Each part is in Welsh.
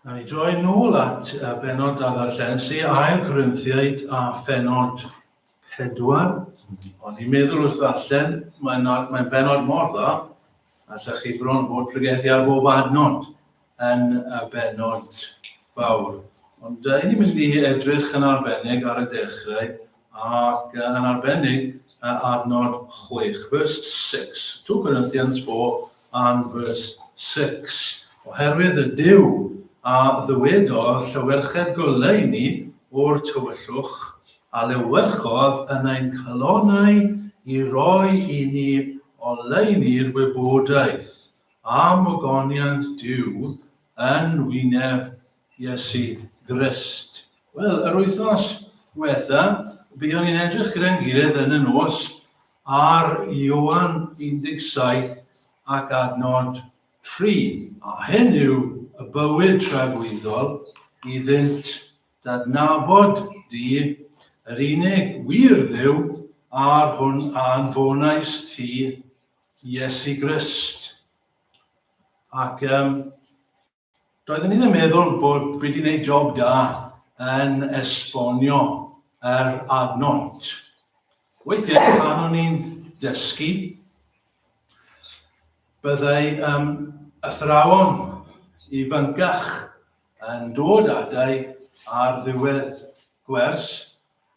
A ni droi nôl at uh, benod a ddarllen sy ail Corinthiaid a phenod pedwar. Ond i'n meddwl wrth ddarllen, mae'n mae benod mor dda, allech chi bron bod pregethu ar bob adnod yn y benod fawr. Ond uh, ni'n mynd i edrych yn arbennig ar y dechrau ac yn arbennig ar nod chwech, verse 6. 2 Corinthians 4 and verse 6. Oherwydd y Duw a ddywedodd llywerched goleuni o'r tywyllwch, a lewerchodd yn ein calonau i roi i ni oleuni'r wybodaeth. am ogoniant Duw yn wyneb Iesu Grist. Wel, yr wythnos diwetha, byddwn ni'n edrych gyda'n gilydd yn y nos ar Ioan 17 ac adnod 3, a hyn yw y bywyd tragwyddol iddynt dadnabod di, yr unig wir Dduw, a'r hwn a anfonais ti Iesu Grist. Ac um, doeddwn i ddim meddwl bod wedi gwneud job da yn esbonio yr adnodd. Weithiau pan o'n i'n dysgu, byddai um, athrawon i fyncach yn dod adau ar ddiwedd gwers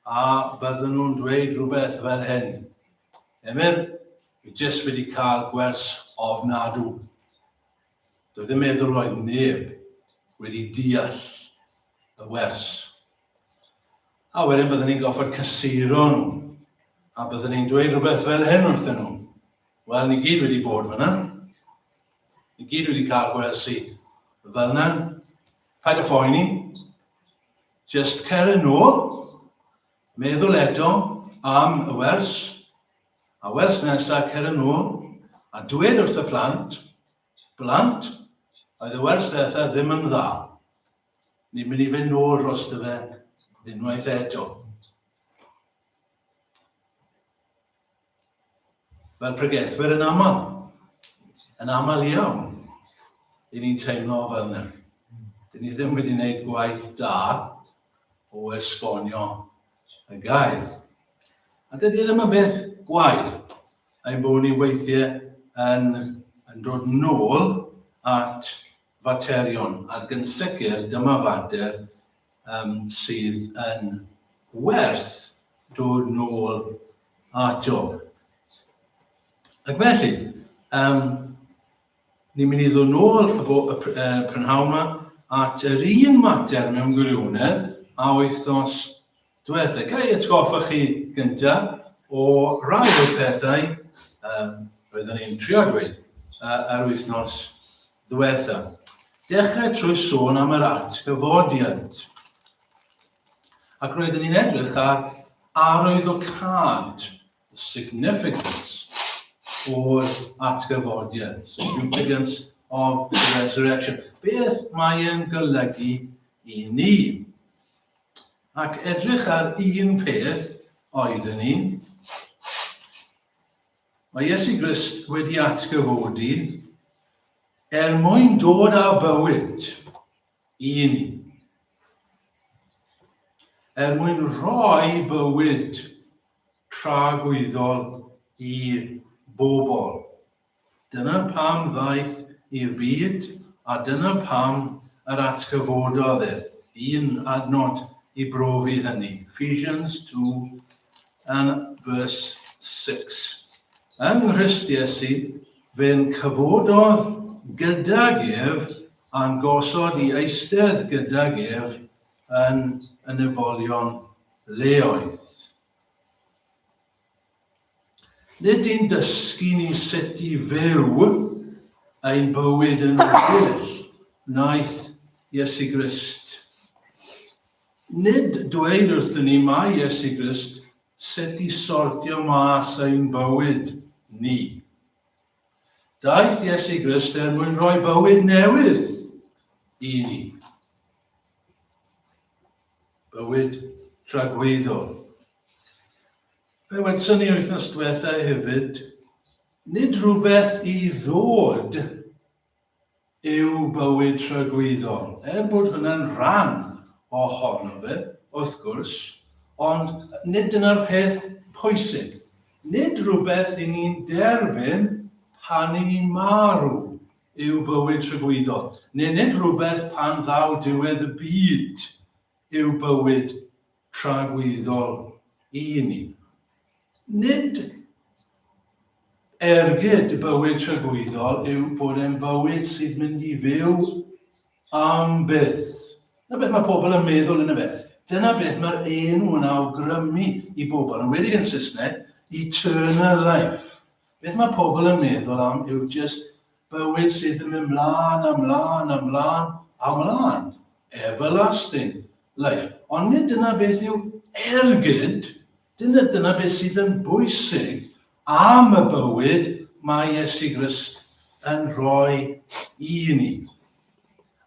A bydden nhw'n dweud rhywbeth fel hyn, Emyr, fi jyst wedi cael gwers ofnadw. Dwi ddim meddwl roedd neb wedi deall y wers. A wedyn bydden ni'n goffod cysuro nhw. A bydden ni'n dweud rhywbeth fel hyn wrthyn nhw. Wel, ni gyd wedi bod fyna. Ni gyd wedi cael gwersi fel yna. Paid â phoeni. Jyst cer yn ôl, meddwl eto am y wers, a wers nesaf cer yn ôl a dweud wrth y plant, blant, oedd y wers ddiwetha ddim yn dda. Ni'n mynd i fynd nôl dros dy fe unwaith eto. Fel pregethwyr yn aml, yn aml iawn, i ni'n teimlo fel yna. Dyn ni ddim wedi gwneud gwaith da o esbonio y gair. A dydy e ddim yn beth gwael, ein bod ni weithiau yn, yn dod nôl at faterion, ac yn sicr dyma fater yym sydd yn werth dod nôl ato. Ac felly, um, ni'n mynd i ddod nôl y, bo, y, y prynhawn yma at yr un mater mewn gwirionedd a wythnos Dwetha, ga i atgoffa chi gyntaf o rai o'r pethau um, roeddwn ni'n trio dweud uh, ar wythnos dwetha. Dechrau trwy sôn am yr at gyfodiant. Ac roeddwn ni'n edrych ar arwyddocad, the significance o'r atgyfodiad, significance of the resurrection. Beth mae'n golygu i ni? Ac edrych ar un peth oedden ni. Mae Iesu Grist wedi atgyfodi er mwyn dod â bywyd i ni. Er mwyn rhoi bywyd tragwyddol i bobl. Dyna pam ddaeth i'r byd a dyna pam yr atgyfododd e, un adnod i brofi hynny, Ephesians two and verse six. Yng Nghrist Iesu, fe'n cyfododd gydag ef a'n gosod i eistedd gydag ef yn y nefolion leoedd. Nid yn dysgu ni sut i fyw ein bywyd yn well wnaeth Iesu Grist. Nid dweud wrthyn ni mai Iesu Grist sut i sortio mas ein bywyd ni. Daeth Iesu Grist er mwyn rhoi bywyd newydd i ni. Bywyd tragweddol. Fe wnaethon ni wythnos diwetha hefyd, nid rhywbeth i ddod yw bywyd tragwyddol, er bod hwnna'n rhan ohono fe, wrth gwrs, ond nid dyna'r peth pwysig. Nid rhywbeth i ni'n derbyn pan i ni'n marw yw bywyd tragwyddol, neu nid rhywbeth pan ddaw diwedd y byd yw bywyd tragwyddol i ni. Nid ergyd y bywyd tragwyddol yw bod e'n bywyd sydd mynd i fyw am byth. Dyna beth mae pobl yn meddwl yn y fe. Dyna beth mae'r enw yn awgrymu i bobl, yn wedi yn Saesneg, eternal life. Beth mae pobl yn meddwl am yw just Bywyd sydd yn mynd mlân a mlân a mlân a mlân. Everlasting life. Ond nid dyna beth yw ergyd, dyna, dyna beth sydd yn bwysig am y bywyd mae Iesu Grist yn rhoi i ni.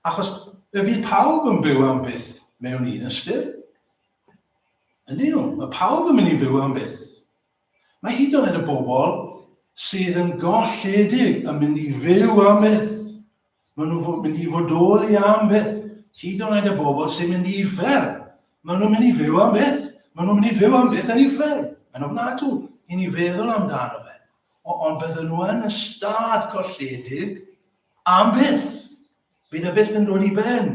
Achos y bydd pawb yn byw am byth mewn un ystyr. Ydy nhw? Mae pawb yn mynd i fyw am byth Mae hyd yn oed y bobl sydd yn golledig yn mynd i fyw am byth. Maen nhw'n mynd i fodoli am byth. Hyd yn oed y bobl sy'n mynd i ufer. Maen nhw'n mynd i fyw am byth. Maen nhw'n mynd i fyw am byth yn ufer. Yn ofnadw, i ni feddwl amdano fe. O, ond bydden nhw yn y stad golledig am byth. Bydd y byth yn dod i ben.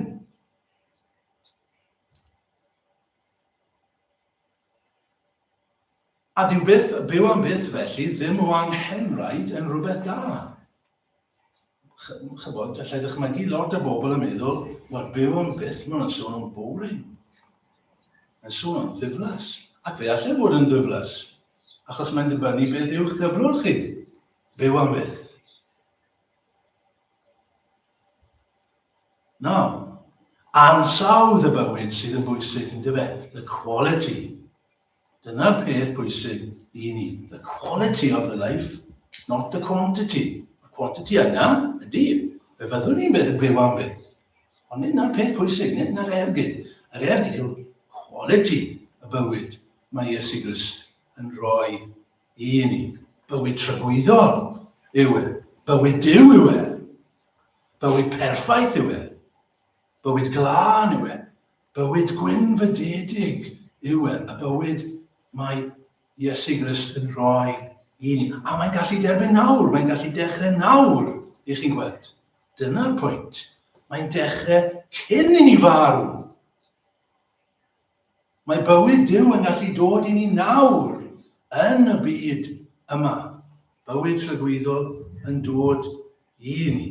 A dyw byth, byw am byth felly, ddim o anghenraid yn rhywbeth da. Chybod, allai ddychmygu lot o bobl yn meddwl, wel, byw am byth, maen nhw'n sôn am boring. Yn sôn am ddiflas. Ac fe allai fod yn ddiflas, achos mae'n dibynnu beth yw'ch cyflwr chi. Byw am byth. No. Ansawdd y bywyd sydd yn bwysig, yn dyfe? The quality. Dyna'r peth bwysig i ni. The quality of the life, not the quantity. Y quantity yna, ydy, fe fyddwn ni'n byw, byw am beth. Ond nid na'r peth pwysig, nid na'r ergyd. Yr ergyd yw quality y bywyd mae Iesu Grist yn rhoi i ni. Bywyd tragwyddol yw e. Bywyd Duw yw e. Bywyd perffaith yw e. Bywyd glân yw e. Bywyd gwynfydedig yw e. Y bywyd mae Iesu Grist yn rhoi i ni. A mae'n gallu derbyn nawr, mae'n gallu dechrau nawr, i chi'n gweld. Dyna'r pwynt. Mae'n dechrau cyn i ni farw. Mae bywyd Duw yn gallu dod i ni nawr yn y byd yma. Bywyd tragwyddol yn dod i ni.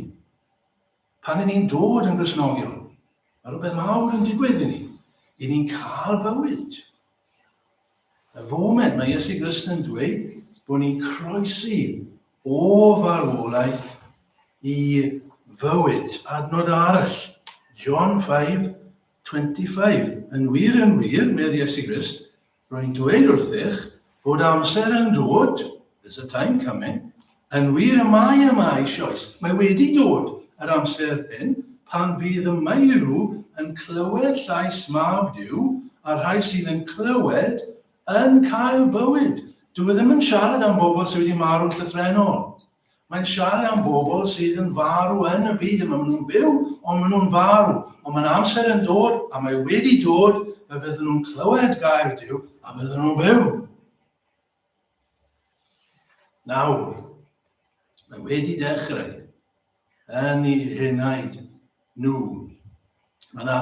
Pan ni'n dod yn grisnogion, mae rhywbeth mawr yn digwydd i ni. I ni'n cael bywyd. Y foment mae Iesu Grist yn dweud bod ni'n croesi o farwolaeth i fywyd. Adnod arall, John 5, 25 Yn wir, yn wir, medd Iesu Grist, rwy'n dweud wrthych, bod amser yn dod, there's a time coming, yn wir y mae yma eisioes, mae wedi dod yr amser hyn, pan fydd y meirw yn clywed llais mab Duw, a'r rhai sydd yn clywed yn cael bywyd. Dwi e ddim yn siarad am bobl sydd wedi marw'n llythrenol. Mae'n siarad am bobl sydd yn farw yn y byd yma. Maen nhw'n byw, ond maen nhw'n farw. Ond mae'n amser yn dod, a mae wedi dod, fe fydden nhw'n clywed gair Dyw, a fydden nhw'n byw. Nawr, mae wedi dechrau yn ei henaid nhw. Mae yna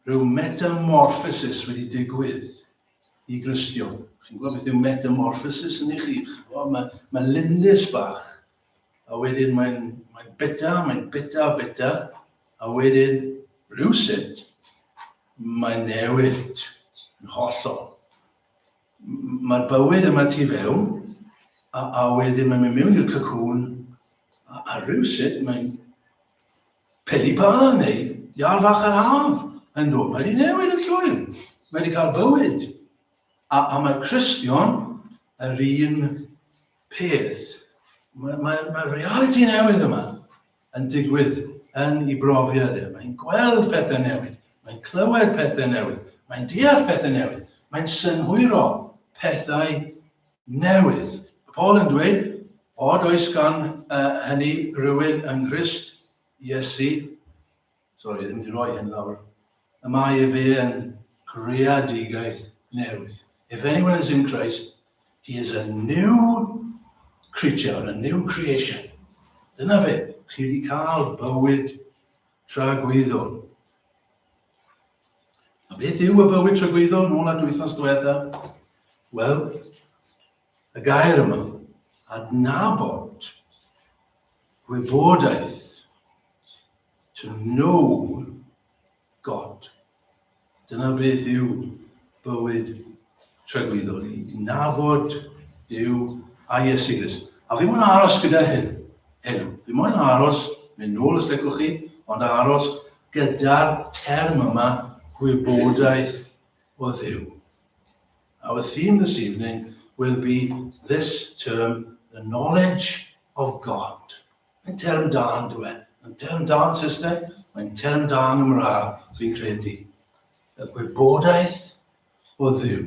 rhyw metamorphosis wedi digwydd i Gristion. Chi'n gwybod beth yw metamorphosis yn eich eich? Mae, mae lindys bach, a wedyn mae'n mae bita, mae'n bita, bita, a wedyn rhywsut mae'n newid yn hollol. Mae'r bywyd yma tu fewn, a, a wedyn mae'n mynd mewn i'r cacwn, a, a rhywsut mae'n Peli bân neu iâr fach yr haf, yn dod, mae hi newydd yn llwyr, mae wedi cael bywyd. A, a mae'r Cristion yr un peth. Mae, mae, mae reality newydd yma yn digwydd yn ei brofiad e. Mae'n gweld pethau newydd, mae'n clywed pethau newydd, mae'n deall pethau newydd, mae'n synhwyro pethau newydd. Paul yn dweud, Od oes gan hynny rywun yng Nghrist Iesu, sori, ddim wedi rhoi hyn lawr, y mae ef yn greadigaeth newydd. If anyone is in Christ, he is a new creature, a new creation. Dyna fe, chi wedi cael bywyd tragwyddol. A beth yw y bywyd tragwyddol nôl at wythnos diwetha? Wel, Y gair yma, adnabod, gwybodaeth, to know God. Dyna beth yw bywyd tragwyddol ni. Nabod Dyw a Iesu Grist. A fi mwyn aros gyda hyn. Hyn. Fi mwyn aros, mynd nôl os lecwch chi, ond aros gyda'r term yma gwybodaeth o ddew. Our theme this evening will be this term, the knowledge of God. Mae'n term da yn dwe. Mae'n term da yn Saesneg, mae'n term da yn Gymraeg, dwi'n credu. Y gwybodaeth o ddiw.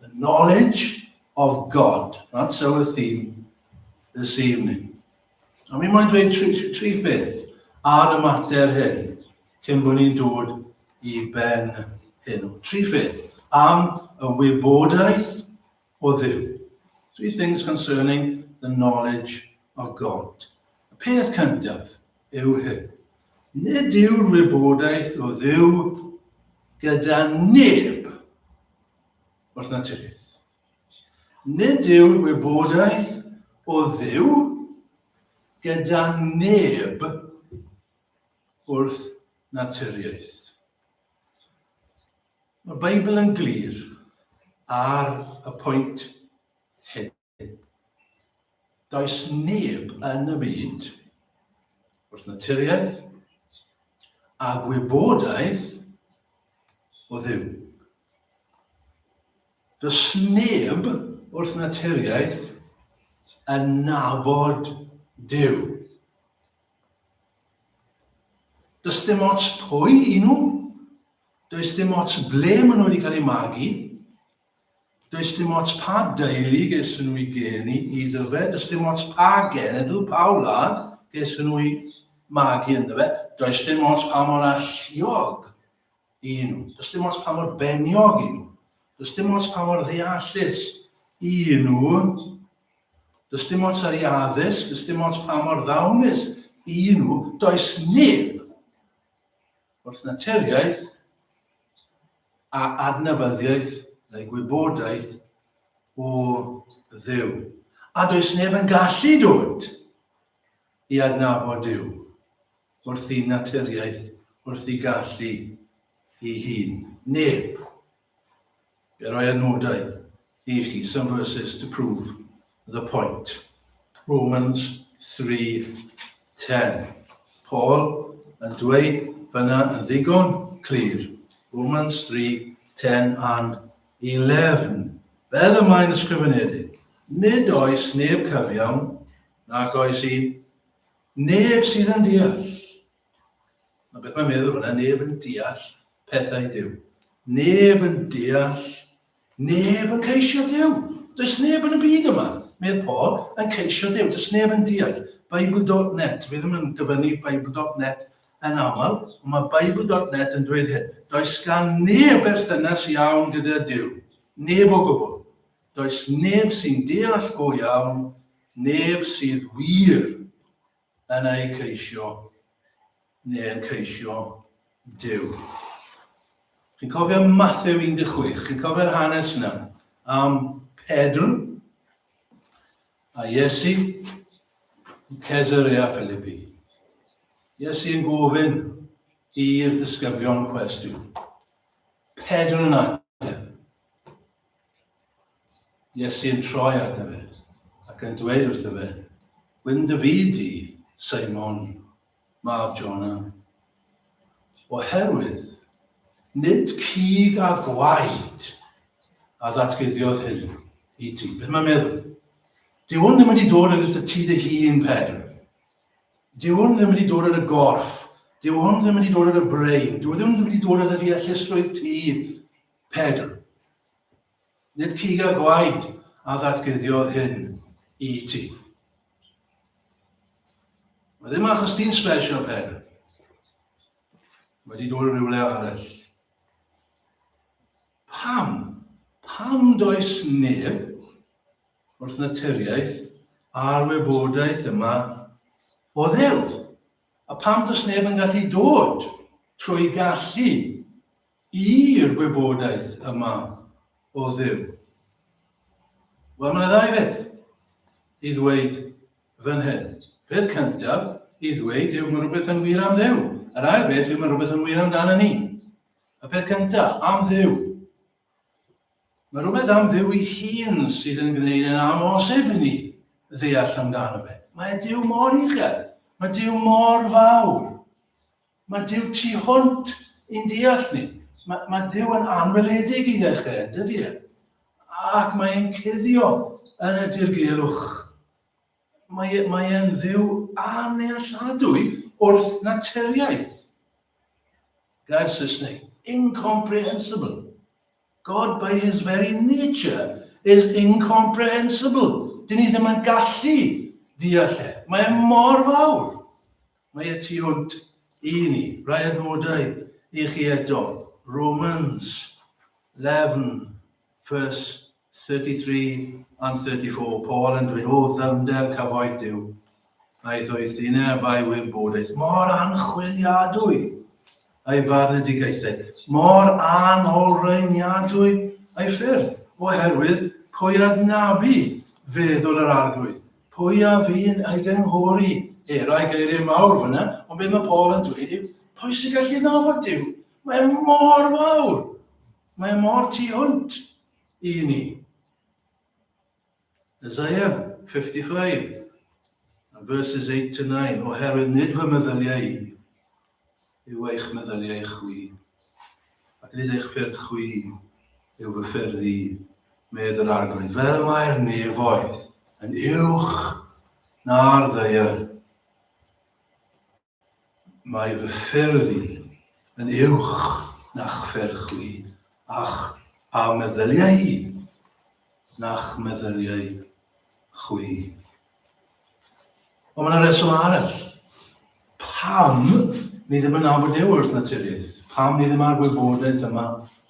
The knowledge of God. That's our theme this evening. A mi moyn dweud tri, tri, tri beth ar y mater hyn, cyn bod ni'n dod i ben hyn. Tri pheth am y wybodaeth o ddiw. Three things concerning the knowledge of God. Y peth cyntaf yw hyn. Nid yw'r wybodaeth o ddiw gyda neb wrth naturiaeth. Nid yw'r wybodaeth o Dduw gyda neb wrth naturiaeth. Mae Beibl yn glir ar y pwynt hyn. Does neb yn y byd wrth naturiaeth a gwybodaeth o ddiw. Does neb wrth naturiaeth yn nabod Duw. Does dim ots pwy i nhw, does dim ots ble maen nhw wedi cael eu magu, does dim ots pa deulu ges nhw i geni i ddyfe, does dim ots pa genedl, pa wlad ges nhw i magu yn ddyfe, does dim ots pa mor alluog i nhw. Does dim ots pa mor beniog i nhw. Does dim ots pa mor ddeallus i nhw. Does dim ots ar ei addysg, does dim ots pa mor ddawnus i nhw. Does neb wrth naturiaeth a adnabyddiaeth neu gwybodaeth o ddew. A does neb yn gallu dod i adnabod Dyw wrth ei naturiaeth, wrth ei gallu ei hun. Neb. Fe roi adnodau i chi, some verses to prove the point. Romans 3.10 Paul yn dweud fyna yn ddigon clir. Romans 3.10 and 11. Fel y mae'n ysgrifenedig, nid oes neb cyfiawn, nag oes un Neb sydd yn deall. Na beth mae'n meddwl fyna, neb yn deall pethau Dyw. Neb yn deall, neb yn ceisio Dyw. Does neb yn y byd yma, meddwl Paul, yn ceisio Dyw. Does neb yn deall. Bible.net, fi ddim yn dyfynnu Bible.net yn aml, ond mae Bible.net yn dweud hyn. Does gan neb berthynas iawn gyda Dyw. Neb o gwbl. Does neb sy'n deall go iawn, neb sydd wir yn eu ceisio, neu yn ceisio Duw. Chi'n cofio Matthew 16? Chi'n cofio'r hanes yna am Pedr a Iesu yn Caesarea Philippi. Iesu yn gofyn i'r disgyblion cwestiwn. Pedr yn ateb. Iesu yn troi at efe, ac yn dweud wrth efe, Gwyn dy fyd di, Simon, mab Jona. Oherwydd, nid cig a gwaed a ddatguddiodd hyn i ti. Beth mae'n meddwl? Dyw hwn ddim wedi dod yn wrth y ti dy hun, Pedr. Dyw hwn ddim wedi dod yn y gorff. Dyw hwn ddim wedi dod yn y brain. Dyw hwn ddim wedi dod yn y ddeallusrwydd ti. Pedr. Nid cig a gwaed a ddatguddiodd hyn i ti. Mae ddim achos ti'n special, Pedr. Wedi dod yn rhywle arall. Pam? Pam does neb wrth naturiaeth a'r wybodaeth yma o ddew? A pam does neb yn gallu dod trwy gallu I'r gwybodaeth y math o Dduw? Wel, mae yna ddau beth i ddweud fan hyn. Peth cyntaf i ddweud yw mae rhywbeth yn wir am Dduw. Yr ail beth yw mae rhywbeth yn wir amdano ni. Y peth cyntaf, am Dduw. Mae rhywbeth am Dduw i hun sydd yn gwneud yn amhosib i ni ddeall amdano fe. Mae Duw mor uchel. Mae Duw mor fawr. Mae Duw tu hwnt i'n deall ni. Mae, mae Duw yn anweledig i ddechrau, yn dydy e? Ac mae e'n cuddio yn y dirgelwch. Mae, e, mae e'n ddiw anealladwy wrth naturiaeth. Gair Saesneg, incomprehensible. God by his very nature is incomprehensible. Dyn ni ddim yn gallu deall e. Mae e mor fawr. Mae y tu hwnt i ni. Rhai adnodau i chi eto. Romans 11, vers 33 and 34, Paul yn dweud, o ddyfnder cyfoeth Dyw, aeth o'i thineb a'i wybodaeth mor anchwiliadwy. ei farnedigaethau mor anolrhaeniadwy a'i ffyrdd, oherwydd pwy adnabu feddwl yr Arglwydd? Pwy a fu'n ei gynghori? He, rai geiriau mawr fyna, ond beth mae Paul yn dweud yw, pwy sy'n gallu nabod Dyw? Mae e mor fawr. Mae e mor tu hwnt i ni. Isaiah 55, and verses 8 to 9, Oherwydd nid fy meddyliau i yw eich meddyliau chwi, ac nid eich ffyrdd chwi yw fy ffyrdd i, medd yr arglwydd. Fel mae'r nefoedd yn uwch na'r ddeiar, Mae fy ffyrdd i yn uwch na'ch ffyrdd chwi, a'ch a meddyliau i na'ch meddyliau chwi. Ond mae yna reswm arall. Pam ni ddim yn nabod Duw wrth naturiaeth? Pam ni ddim ar wybodaeth yma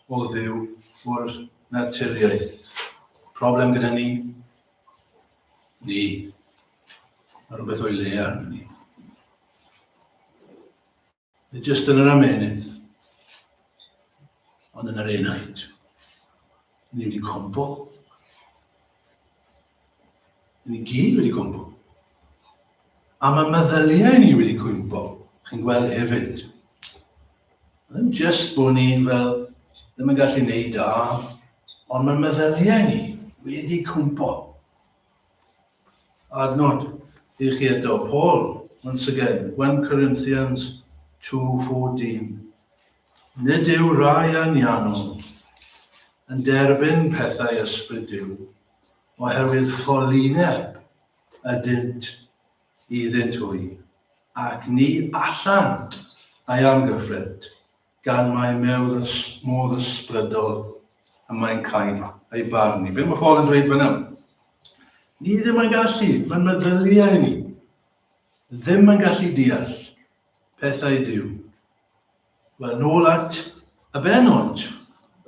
o ddew o'r naturiaeth? Problem gyda ni? Ni. Mae rhywbeth o'i le ar hynny. Nid jyst yn yr amenydd, ond yn yr enaid. Ni wedi compo. Ni gyd wedi compo. A mae meddyliau ni wedi cwympo, chi'n gweld hefyd. Ddim jyst bod ni fel ddim yn gallu neud da, ond mae meddyliau ni wedi cwympo. Adnod i chi eto, Paul, once again, 1 Corinthians 2.14. Nid yw rai anianol yn derbyn pethau ysbryd Dyw, oherwydd ffolineb ydynt iddynt hwy, ac ni allant ei amgyffrint. gan mai mewdd ys, modd ysbrydol y mae'n cael ei barnu. Be mae Paul yn dweud fyna? Ni ddim yn gallu, mae'n meddyliau ni, ddim yn gallu deall pethau Dyw. Wel, nôl at y benod.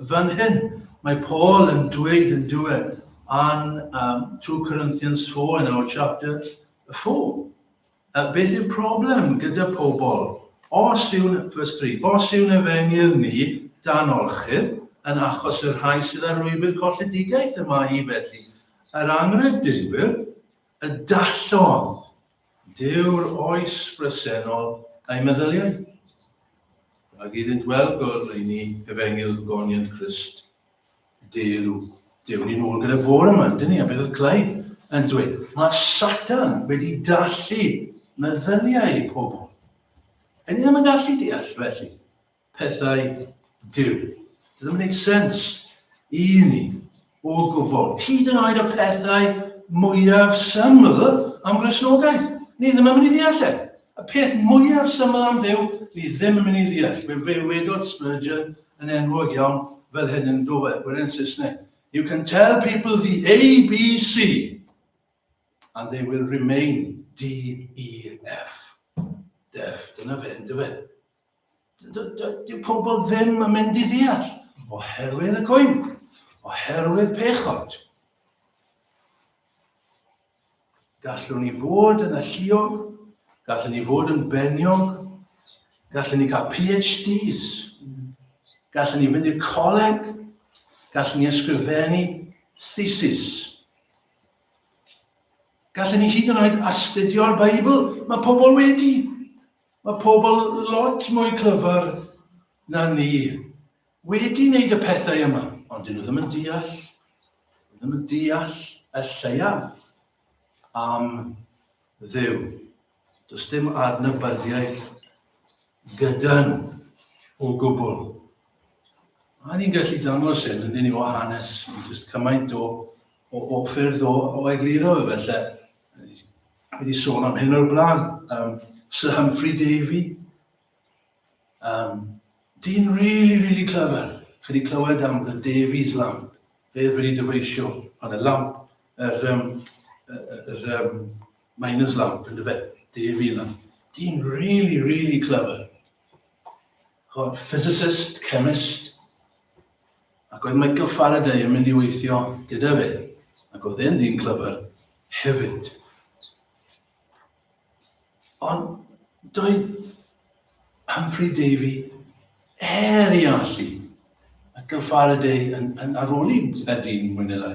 Fan hyn, mae Paul yn dweud yn diwedd an um, 2 Corinthians 4 yn our chapter 4. A beth yw'r problem gyda pobl? Os yw'n ffrystri, os yw'n efengyl ni dan orchudd yn achos y rhai sydd â rhwybyd colledigaeth y mae hi felly, yr anghredinwyr, y dallodd Dyw'r oes bresennol a'i meddyliaeth. Rhag iddynt weld gol rheini efengyl goniant Crist. Dew, dewn ni nôl gyda bore yma, dyn ni, a beth oedd Clyde yn dweud? Mae Satan wedi dallu meddyliau i pobl. Yn ddim yn gallu deall felly pethau Dyw. Dydy ddim yn gwneud sens i ni o gwbl. Hyd yn oed y pethau mwyaf syml am grysnogaeth. Ni ddim yn mynd i ddeall e. Y peth mwyaf syml am Dduw, ni ddim yn mynd i ddeall, fe wedodd Spurgeon yn enwog iawn fel hyn yn Dover, gweren Saesneg, You can tell people the ABC and they will remain DEF. Def, dyna fe, ynddo fe. Dyw pobl ddim yn mynd i ddeall oherwydd y coenwr, oherwydd pechod. Gallwn ni fod yn alluog, gallwn ni fod yn beniog, gallwn ni cael PhDs, gallwn ni fynd i'r coleg, gallwn ni ysgrifennu thesis. Gallwn ni hyd yn oed astudio'r Beibl, mae pobl wedi. Mae pobl lot mwy clyfar na ni wedi wneud y pethau yma, ond dyn nhw ddim yn deall, dyn ddim yn deall y lleiaf am ddew. Does dim adnabyddiaeth gyda nhw o gwbl. A ni'n gallu dangos hyn, yn ni o hanes, jyst cymaint o, o, o ffyrdd o, o egluro efallai. Wedi sôn am hyn o'r blaen, um, Sir Humphrey Davy. Um, dyn really, really clever. Chi wedi clywed am The Davies Lamp. Fe wedi dyfeisio pan y lamp, yr, um, yr um, miners lamp, yn dyfe, Davy Lamp. Dyn really, really clever. Chwarae physicist, chemist, ac oedd Michael Faraday yn mynd i weithio gyda fe, ac oedd e'n ddyn clyfr hefyd. Ond doedd Humphrey Davy er i allu, Michael Faraday yn, yn aroli gyda dyn mwy neu lai.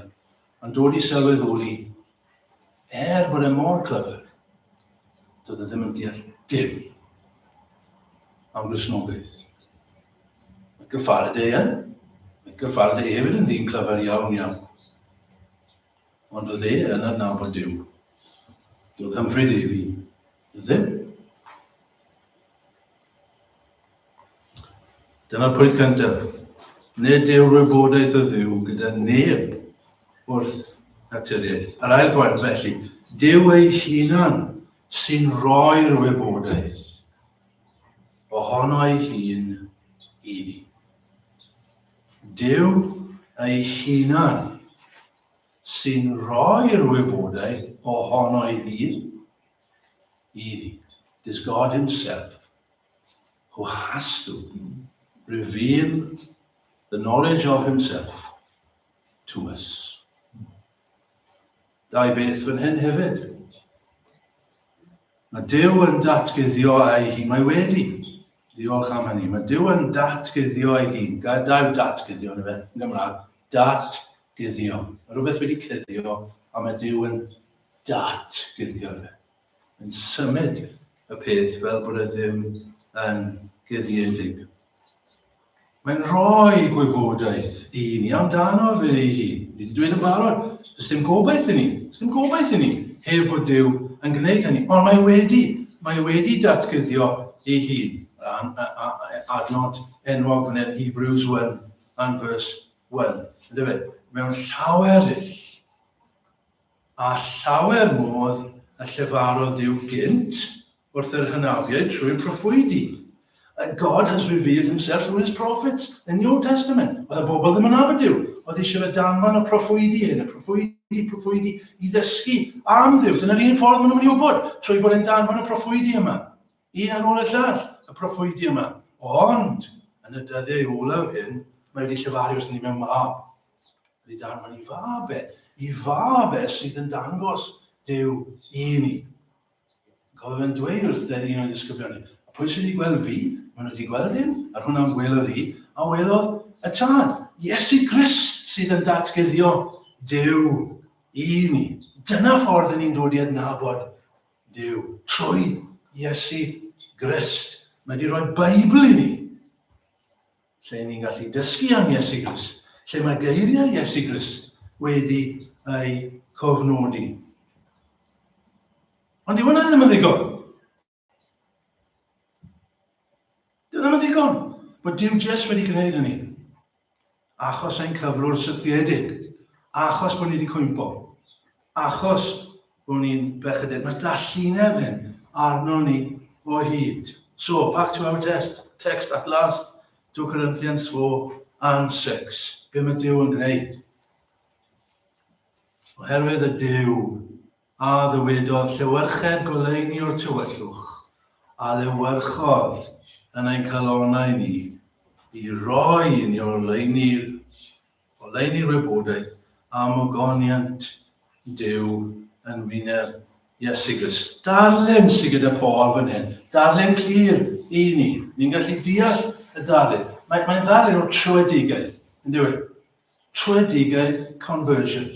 Yn dod i sylwydd oedd hi, er bod e mor clyfr, doedd e ddim yn deall dim am Gristnogaeth. Michael Faraday yn. Michael Faraday hefyd yn ddyn clyfr iawn iawn. Ond oedd e yn adnabod Dyw. Doedd Humphrey Davy Ddim. Dyna pwynt cyntaf. Nid yw'r wybodaeth o ddiw gyda neb wrth naturiaeth. Yr ail bwynt felly, Dyw ei hunan sy'n rhoi'r wybodaeth ohono ei hun i ni. Dyw ei hunan sy'n rhoi'r wybodaeth ohono ei hun i ni. Does God himself, who has to reveal the knowledge of himself to us. Dau beth fan hyn hefyd. Mae Dyw yn datgyddio ei hun, mae wedi. Diolch am hynny. Mae Dyw yn datgyddio ei hun. Gadael datgyddio yn y fe, yn Gymraeg. Datgyddio. Mae rhywbeth wedi cyddio, a mae Dyw yn datguddio fe, yn symud y peth fel bod e ddim yn guddiedig. Mae'n rhoi gwybodaeth i ni amdano fe ei hun. Ni wedi dweud yn barod, does dim gobaith i ni, does dim gobaith i ni heb fod Dyw yn gwneud hynny. Ond mae wedi, mae wedi datguddio ei hun. Adnod enwog fan hyn, Hebrews 1 and verse 1. Ydy fe? Mewn llawer dull. a llawer modd y llefarodd Duw gynt wrth yr hynafiaid trwy'r proffwydi. God has revealed himself through his prophets in the Old Testament. Oedd y bobl ddim yn nabod Duw. Oedd eisiau fe danfon y proffwydi hyn, y proffwydi, proffwydi i ddysgu am Dduw. Dyna'r un ffordd maen nhw'n mynd i wybod, trwy bod yn danfon y proffwydi yma. Un ar ôl y llall, y proffwydi yma. Ond, yn y dyddiau olaf hyn, mae wedi llefaru wrth ni mewn mab. Nid dan i fabe, i fabe sydd yn dangos Dyw i ni. Cofio fe'n dweud wrth e un o'i ddisgyblion ni, a pwy sydd wedi gweld fi, maen nhw wedi gweld un, a hwnna am welodd hi, a welodd y tad. Iesu Grist sydd yn datgyddio Dyw i ni. Dyna ffordd yn ni'n dod i adnabod Dyw, trwy Iesu Grist. Mae wedi rhoi Beibl i ni. Lle i ni'n gallu dysgu am Iesu Grist, lle mae geiriau Iesu Grist wedi ei cofnodi. Ond i hwnna ddim yn ddigon. Dyw ddim yn ddigon bod Dyw Jes wedi gwneud hynny. Achos ein cyflwr sythiedig, achos bod ni wedi cwympo. Achos bod ni'n bechadeg, mae'r dallineb hyn arno ni o hyd. So, back to our test, text at last, 2 Corinthians 4 and 6. Be mae Dyw yn gwneud? Oherwydd y Dyw a ddywedodd llewyrched goleini o'r tywyllwch, a lewyrchodd yn ein calonau ni, i roi i ni o'r leini Oleuni wybodaeth am ogoniant Duw yn wyneb Iesu Grist. Darllen sydd gyda Paul fan hyn. Darllen clir i ni. Ni'n gallu deall y darllen. Mae'n mae ddarllen o trwedigaeth, yn dweud. Trwedigaeth conversion.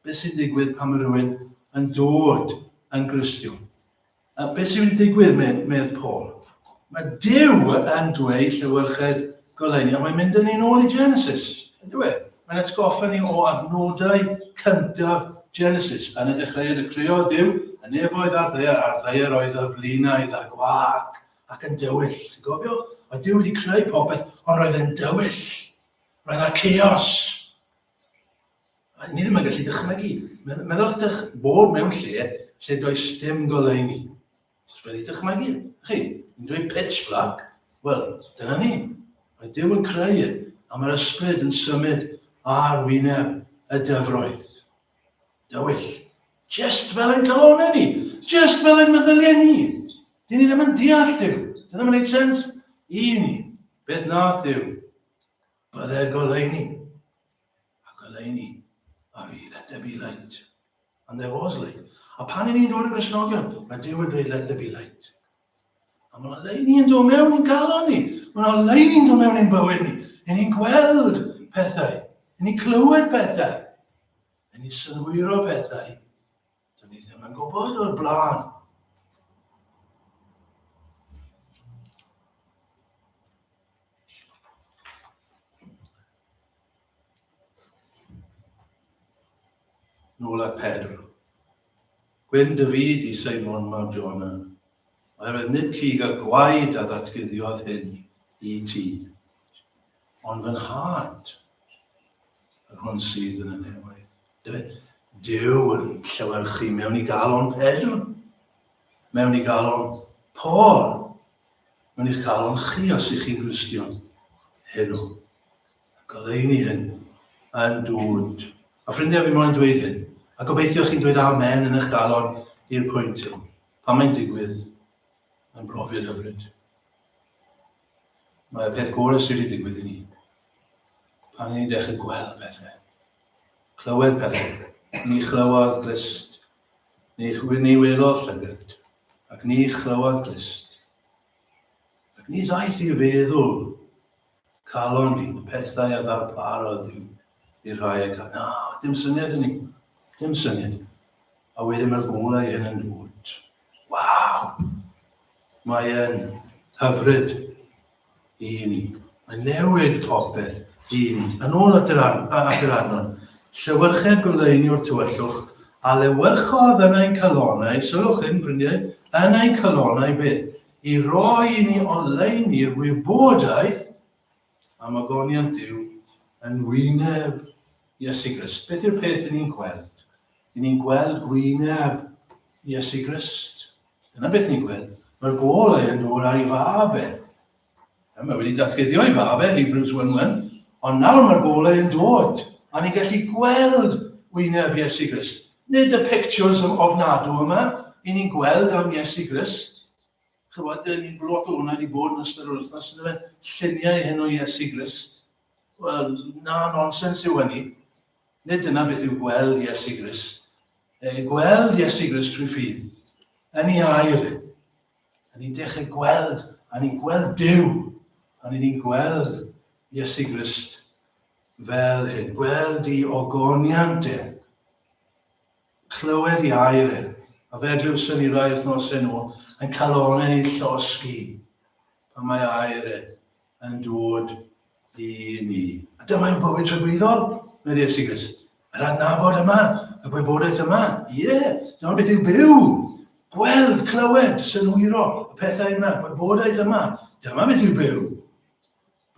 Beth sy'n digwydd pan mae rhywun yn dod yn Gristiwn? A beth sy'n mynd i digwydd, medd, medd Paul? Mae Dyw yn dweud llewyrchedd goleuni, a mae'n mynd â ni'n ôl i Genesis, yn dweud. Mae'n atgoffa ni o adnodau cyntaf Genesis. Yn y dechreuad y creo Dyw, y nefoedd a'r ddeir, a'r ddeir oedd y flinaidd a gwag ac yn dywyll. Ti'n gofio? Oedd Dyw wedi creu popeth, ond roedd e'n dywyll. Roedd yna chaos. A ni ddim yn gallu dychmygu. Meddwl ydych bod mewn lle lle does dim goleuni. Os wedi dychmygu, chi, yn dweud pitch black, wel, dyna ni. Mae Dyw yn creu a mae'r ysbryd yn symud ar wyneb y dyfroedd. Dywyll. Just fel yn galonau ni. Just fel yn meddyliau ni. Dyn ni ddim yn deall Dyw. Dyna ddim yn gwneud sens i ni. Beth nath Dyw? Byddai'r goleuni. A goleuni, a fi, let there be light. And there was light. A pan i ni'n dod yn grisnogion, mae Dyw yn dweud, let there be light. A mae leini yn dod mewn i'n galon ni. Mae yna leini'n dod mewn i'n bywyd ni. Yn ni'n gweld pethau. Yn ni'n clywed pethau. Yn ni'n synhwyro pethau. Dyn ni ddim yn gwybod o'r blaen. Nôl at Pedr. Gwyn dy fyd i Simon mab Jona. Oherwydd nid cig a gwaed a ddatguddiodd hyn i ti, ond fy nhad, yr hwn sydd yn y nefoedd. Dy, Dyw yn llewyrchu mewn i galon Pedr, mewn i galon Paul, mewn i'ch galon chi os ych chi'n Gristion heno. Goleini hyn yn dŵd. A ffrindiau fi moyn dweud hyn, a gobeithio chi'n dweud amen yn eich galon i'r pwynt hyn. Pan mae'n digwydd, mae'n brofiad hyfryd. Mae y peth gorau sydd wedi digwydd i ni. Pan ni'n dechrau gweld pethau, clywed pethau, ni chlywodd glist, ni, ni welodd llygyd, ac ni chlywodd glist. Ac ni ddaeth i feddwl calon ni, y pethau a ddarparodd i i'r rhai ac na, dim syniad i ni, dim syniad. A wedyn mae'r golau hyn yn dod. Waw! Mae e'n hyfryd i ni. Mae'n newid popeth i ni. Yn ôl at yr, ar, at yr arnon, llewyrchedd goleunio'r tywyllwch a lewyrchodd yn ein calonau, sylwch hyn, ffrindiau, yn ein calonau beth? i roi i ni oleuni'r wybodaeth am agoniant Duw yn wyneb Iesu Grist. Beth yw'r peth i ni'n gweld? I ni'n gweld gwyneb Iesu Grist. Dyna beth ni'n gweld. Mae'r golau yn dod a'i fab e. Mae e wedi datguddio ei fab e, Hebrews 1:1, ond nawr mae'r bobl yn dod, a ni'n gallu gweld wyneb Iesu Grist. Nid y pictures of ofnadw yma, i ni'n gweld am Iesu Grist. Chywod, dyn ni'n blot o hwnna wedi bod yn ystod yr wythnos, yn fe, lluniau hyn o Iesu Grist. Wel, na nonsens yw hynny. Nid dyna beth yw gweld Iesu Grist. E, gweld Iesu Grist trwy ffydd, yn ei air e. A ni'n dechrau gweld, a ni'n gweld Duw, a ni'n gweld Iesu Grist fel hyn, gweld i ogoniant e, clywed i air e, a fe glywson ni rai wythnosau nhw yn cael onen i'n llosgi pan mae air e yn dod i ni. A dyma yw bywyd tragwyddol, meddwl Iesu Grist. Yr adnabod yma, y gwybodaeth yma, ie, yeah, dyma beth yw byw, gweld, clywed, synwyro, y pethau yna, gwybodaeth yma, dyma beth yw byw.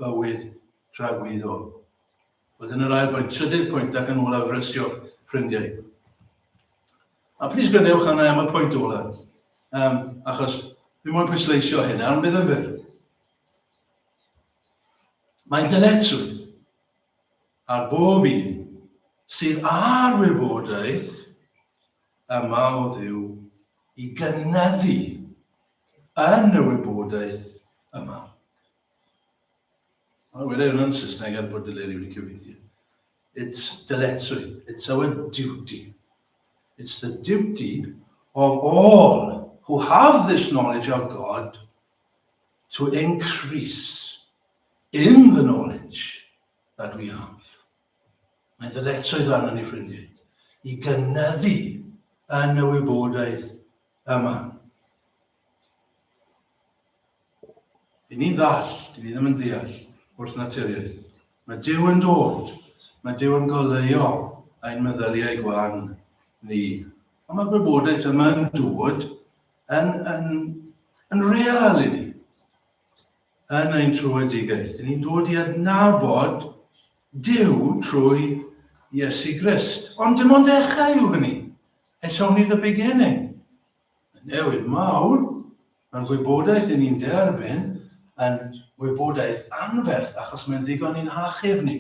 Bywyd tragwyddol. Wedyn yr ail bwynt, trydydd pwynt ac yn olaf rysio ffrindiau. A plis gynewch arna am y pwynt ola, um, achos fi moyn pwysleisio hyn, a'n bydd yn fyr. Mae dyletswydd ar bob un sydd ar wybodaeth yma o ddiw i gynyddu yn y wybodaeth yma. Mae wedi hwnna yn Saesneg er bod Deleri wedi cyfeithi. It's dyletswydd. It's our duty. It's the duty of all who have this knowledge of God to increase in the knowledge that we have. Mae ddyletswydd arno ni ffrindiau i gynyddu yn y wybodaeth yma. I ni'n ddall, i ni ddim yn deall wrth naturiaeth. Mae Dyw yn dod, mae Dyw yn goleuo ein meddyliau gwan ni. Ond mae'r gwybodaeth yma yn dod yn, yn, yn real i ni, yn ein trwedigaeth. I ni'n dod i adnabod Dyw trwy Iesu Grist. Ond dim ond dechrau yw hynny. It's only the beginning. Y newid mawr mewn gwybodaeth i ni'n derbyn yn wybodaeth anferth achos mae'n ddigon i'n hachub ni,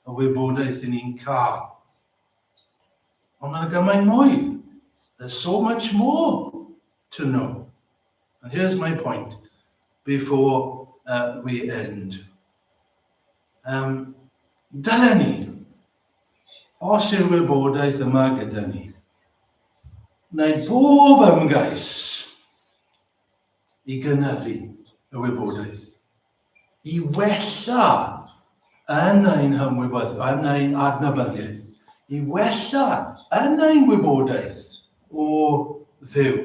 y wybodaeth i ni'n cael. Ond mae'n gymaint mwy. There's so much more to know. And here's my point before uh, we end. Um, dylen ni Os yw'r wybodaeth yma gyda ni, wneud bob ymgais i gynyddu y wybodaeth, i wella yn ein hymwybodaeth, yn ein adnabyddiaeth, i wella yn ein wybodaeth o ddew.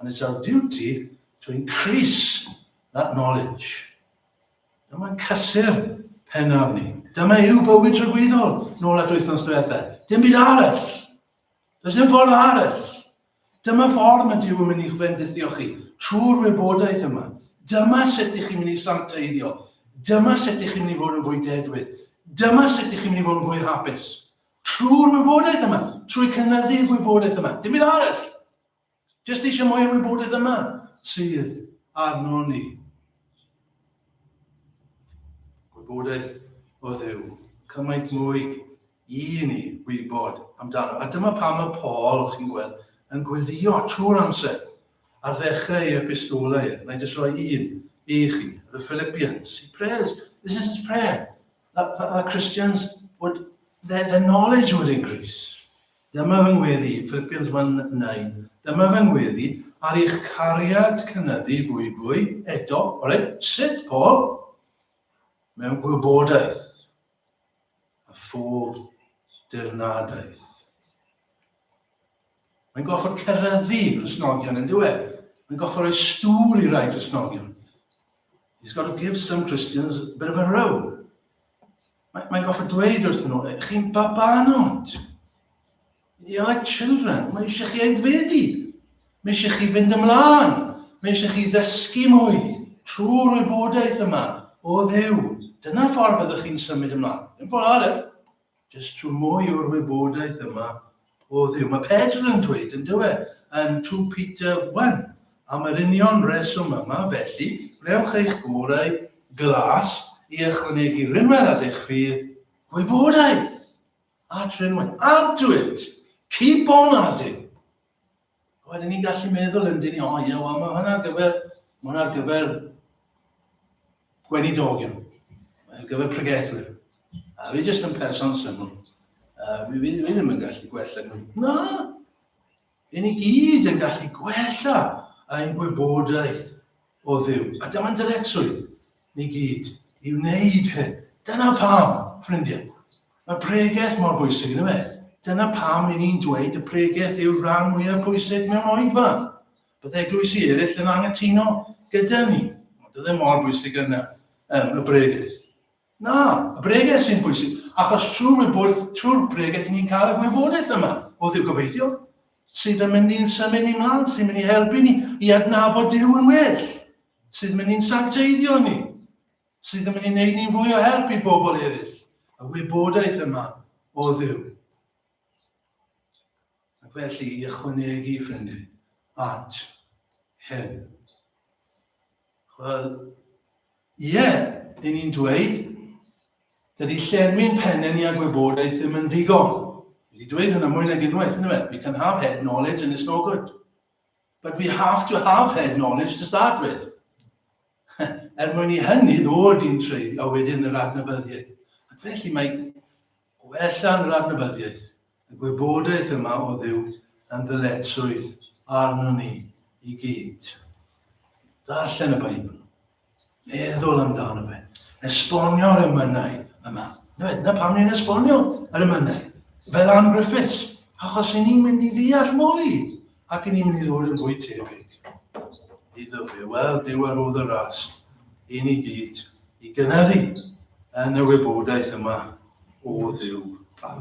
and it's our duty to increase that knowledge. Dyma'n cysur penaf ni. Dyma yw bywyd tragwyddol, nôl at wythnos diwetha. Dim byd arall. Does dim ffordd arall. Dyma ffordd mae Dyw yn mynd i'ch fendithio chi, trwy'r wybodaeth yma. Dyma sut ych chi'n mynd i santeiddio. Dyma sut ych chi'n mynd i fod yn fwy dedwydd. Dyma sut ych chi'n mynd i fod yn fwy hapus. Trwy'r wybodaeth yma, trwy cynyddu y gwybodaeth yma, dim byd arall. Jyst eisiau mwy o wybodaeth yma sydd arno ni. Gwybodaeth o ddew. Cymaint mwy i ni wybod amdano. A dyma pam y Paul, chi'n gweld, yn gweddio trwy'r amser ar ddechrau ei epistolau. Na i jyst roi un i chi, the Philippians. He prays. This is his prayer. that, that, that Christians would, their, their knowledge would increase. Dyma fy ngweddi, Philippians 1.9. Dyma fy ngweddi, ar eich cariad cynyddu fwy fwy, eto, ore, sut, Paul? Mewn gwybodaeth a phob dirnadaeth. Mae'n gorfod cyrraeddu Cristnogion yn dyw e. Mae'n gorfod rhoi stŵr i rai Cristnogion. He's got to give some Christians a bit of a row. Mae'n mae gorfod dweud wrth nhw, chi'n babanod. You're like children. Mae eisiau chi aeddfedu. Mae eisiau chi fynd ymlaen. Mae eisiau chi ddysgu mwy trwy'r wybodaeth yma o ddew. Dyna ffordd ydych chi'n symud ymlaen. Yn ffordd arall, Jyst rho mwy o'r wybodaeth yma o Dduw. Mae Pedr yn dweud, yn dywe, yn 2 Peter 1, am yr union reswm yma, felly, rewch eich gorau glas i ychwanegu rinwedd at eich ffydd, gwybodaeth at rinwedd. Addwyd! Keep on adding! A wedyn ni'n gallu meddwl yn dyn ni, o ie, wel, mae hwnna ar gyfer, mae hwnna ar gyfer gweinidogion, ar gyfer pregethwyr. A fi jyst yn person syml. Uh, fi, fi, fi ddim yn gallu gwella nhw. Na! Yn i gyd yn gallu gwella ein gwybodaeth o Dduw. A dyma'n dyletswydd ni gyd i wneud hyn. Dyna pam, ffrindiau. Mae pregeth mor bwysig yn y beth. Dyna pam i ni'n dweud y pregeth yw'r rhan mwyaf pwysig mewn oedfa. Bydd eglwys i eraill yn angytuno gyda ni. Ond ydy e mor bwysig yna, um, y bregeth. Na, y bregeth sy'n bwysig, achos trwy'r wybwyr, trwy'r bregeth, ni'n cael y gwybodaeth yma o ddiw gobeithio, sydd yn mynd i'n symud ni mlaen, sy'n mynd i helpu ni i adnabod Dyw yn well, sydd yn mynd i'n sancteiddio ni, sydd yn mynd i'n neud ni'n fwy o help i bobl eraill, y wybodaeth yma o ddiw. Ac felly i ychwanegu ffrindu at hyn. Wel, Ie, i ni'n dweud, dydy llenwi'n penne ni a gwybodaeth ddim yn ddigon. Wedi dweud hynna mwy nag unwaith, ynddo fe? We can have head knowledge and it's no good. But we have to have head knowledge to start with. er mwyn i hynny ddod i'n treiddio a wedyn yr adnabyddiaeth. Ac felly mae Gwella'n yr adnabyddiaeth, y gwybodaeth yma o Dduw dan ddyletswydd arnon ni i gyd. Darllen y Beibl. Meddwl amdano fe. Esbonio'r ymynau yma. Dyna pam ni'n esbonio yr ymynau. Fel Ann Griffiths. Achos i ni'n mynd i ddeall mwy Ac yn un neu ddwy mwy tebyg iddo fe. Wel, dywedodd y ras i ni gyd i gynyddu yn y wybodaeth yma o Dduw.